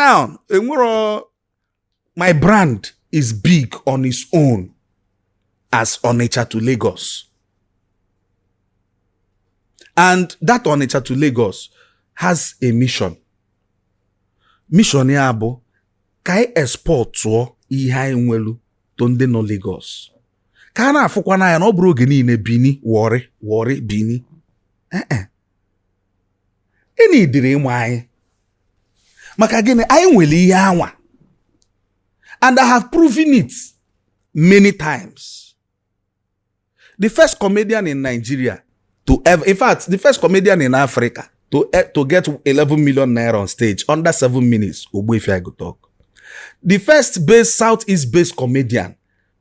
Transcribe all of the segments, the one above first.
now enwero my brand is big on its own as Onitsha to Lagos and that Onitsha to Lagos has a mission mission ya bụ ka anyị expọtụọ ihe anyị nwelu to ndị nọ Lagos ka a na-afụkwa n'anya na ọ bụrọ oge niile Bini Warri Warri Bini ee eh, eh. ị needịrị ịmụ anyị maka gịnị anyị nwere ihe anwa and I have proven it many times the first comedian in Nigeria to ever in fact the first comedian in Africa to, eh, to get 11 million naira on stage under seven minutes Ogbuefi I Go Tuk the first base southeast based comedian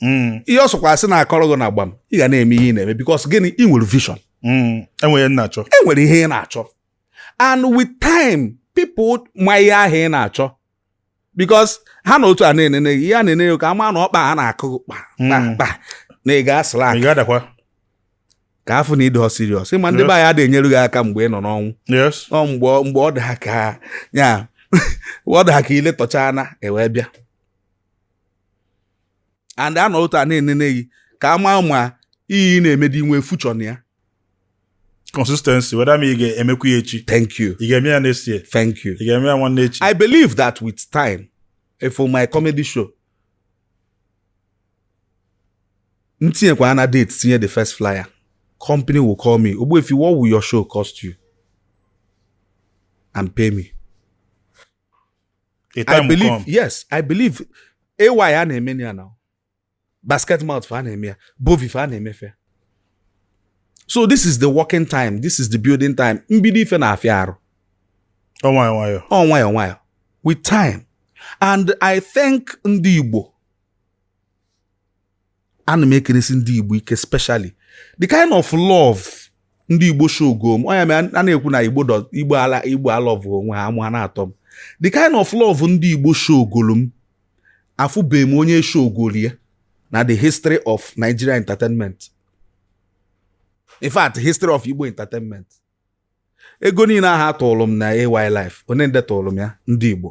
mm. ihe ọ sọkwa asị na-akọrọ gị na gbam ị ga na-eme ihe ị na-eme because gịnị ị nwere vision mm. enwere na-achọ enwere ihe ị na-achọ and with time people amaa ihe ahụ ị na-achọ because ha nọ otu a na-enene gị ya na-enene ka ama na ọkpa ha na-akụ kpa mm. kpa na ị ga-asịla aka ka a fụ na ị dị serious ị ma ndị be anyị adịghị enyere gị aka mgbe ị nọ n'ọnwụ ọ mgbe ọ dị ha ka ya ọ dị ha ka iletọcha na ewee bịa and a nọ otu a na-enene gị ka a maa ma ihe ị na-eme dị i nwe future na ya consistency whether ma ị ga-emekwa ya echi thank you ị ga-eme ya next year thank you ị ga-eme ya nwanne echi i believe that with time eh, for my comedy show m tinyekwa na date tinye the first flyer company will call me ogbuefi what will your show cost you and pay me A time I will believe come. yes I believe AY a na-eme ya now Basketmouth fa a na-eme ya Bovi fa a na-emefe ya. so this is the working time this is the building time mbido ife na-afịa arụ Ọ nwayọ nwayọ. ọ nwayọ nwayọ with time and I thank ndị Igbo ana m ekelesi ndị igbo ike specially the kind of love ndị igbo shogolu m ọ ya mere a na-ekwu na igbo igbo ala igbo alọvụ onwe ha amụ a na-atọ m the kind of love ndị igbo shogolu m afụbeghị m onye shogolu ya na the history of Nigeria entertainment in fact history of igbo entertainment ego niile ahụ a tụrụ m na AY Live onee nde tụrụ m ya ndị igbo